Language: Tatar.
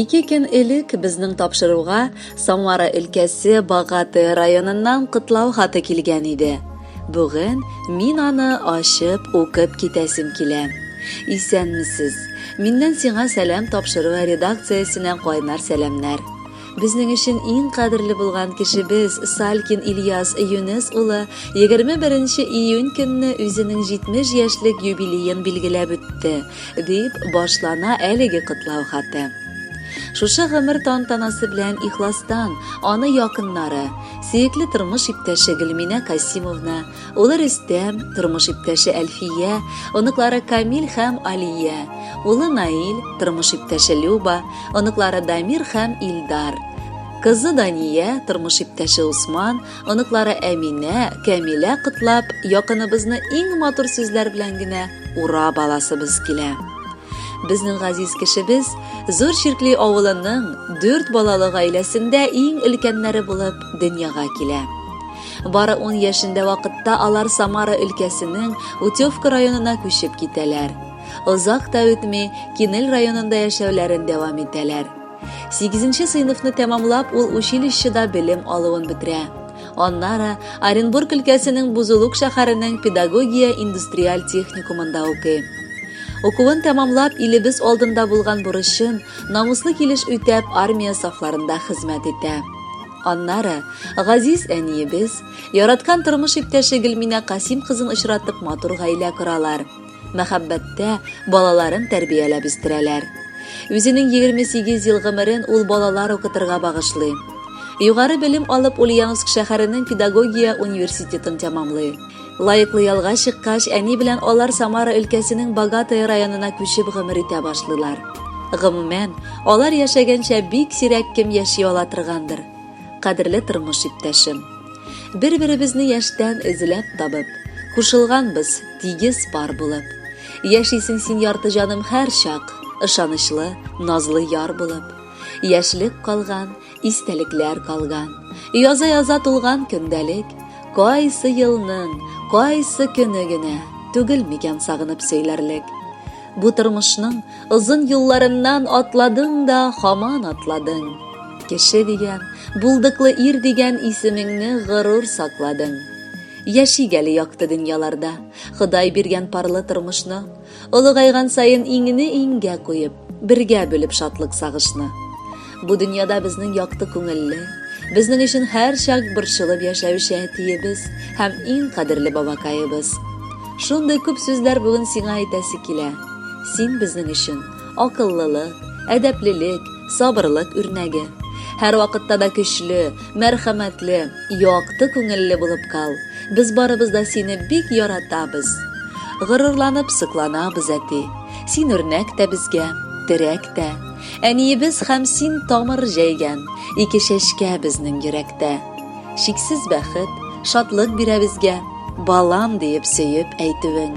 Ике көн элек безнең тапшыруга Самара өлкәсе Багаты районыннан котлау хаты килгән иде. Бүген мин аны ачып укып китәсем килә. Исәнмесез. Миннән сиңа сәлам тапшыру редакциясенә кайнар сәламнәр. Безнең өчен иң кадерле булган кешебез Салькин Ильяс Юнес улы 21 июнь көнне үзенең 70 яшьлек юбилеен билгеләп үтте, дип башлана әлеге котлау хаты. Шушы гомер тантанасы белән ихластан аны якыннары, сөекле тормыш иптәше Гөлминә Касимовна, Улы Рөстәм, тормыш иптәше Әлфия, оныклары Камил һәм Алия, улы Наил, тормыш иптәше Люба, оныклары Дамир һәм Илдар. Кызы Дания, тормыш иптәше Усман, оныклары Әминә, Камилә котлап, якыныбызны иң матур сүзләр белән генә ура баласыбыз килә. Безнең газиз кешебез Зур Чиркли авылының дүрт балалы гаиләсендә иң өлкәннәре булып дөньяга килә. Бары ун яшендә вакытта алар Самара өлкәсенең Утевка районына күчеп китәләр. Озак та үтми, Кинел районында яшәүләрен дәвам итәләр. Сигезенче сыйныфны тәмамлап, ул училищеда белем алуын бетерә. Аннары Оренбург өлкәсенең Бузулук шәһәренең педагогия индустриаль техникумында укый. Укуын тәмамлап, илебез алдында булган бурычын намуслы килеш үтәп, армия сафларында хезмәт итә. Аннары газиз әниебез, яраткан тормыш иптәше Гөлминә Касим кызын очратып матур гаилә коралар. Мәхәббәттә балаларын тәрбияләп үстерәләр. Үзенең 28 ел гомерен ул балалар укытырга багышлый. Югары белем алып Ульяновск шәһәренең педагогия университетын тәмамлый. Лаеклы ялга чыккач, әни белән алар Самара өлкәсенең Богатое районына күчеп гомер итә башлыйлар. Гомумән, алар яшәгәнчә бик сирәк кем яши ала торгандыр. Кадерле тормыш иптәшем. Бер-беребезне яшьтән эзләп табып, кушылганбыз, тигез пар булып. Яшисең син ярты җаным һәрчак, ышанычлы, назлы яр булып. Яшьлек калган, Истәлекләр калган, яза-яза тулган көндәлек, кайсы елның, кайсы көне генә түгел микән сагынып сөйләрлек. Бу тормышның озын юлларыннан атладың да хаман атладың. Кеше дигән, булдыклы ир дигән исемеңне горур сакладың. Яшик әле якты дөньяларда, Ходай биргән парлы тормышны, Олыгайган саен иңне иңгә куеп, бергә бүлеп шатлык-сагышны. Бу дөньяда безнең якты күңелле, безнең өчен һәрчак борчылып яшәүче әтиебез һәм иң кадерле бабакаебыз. Шундый күп сүзләр бүген сиңа әйтәсе килә. Син безнең өчен. Акыллылык, әдәплелек, сабырлык үрнәге. Һәрвакытта да көчле, мәрхәмәтле, якты күңелле булып кал. Без барыбыз да сине бик яратабыз. Горурланып сокланабыз, әти. Син үрнәк тә безгә, терәк тә. Әниебез һәм син тамыр җәйгән, ике чәчкә безнең йөрәктә. Чиксез бәхет, шатлык бирә безгә, балам диеп сөеп әйтүең.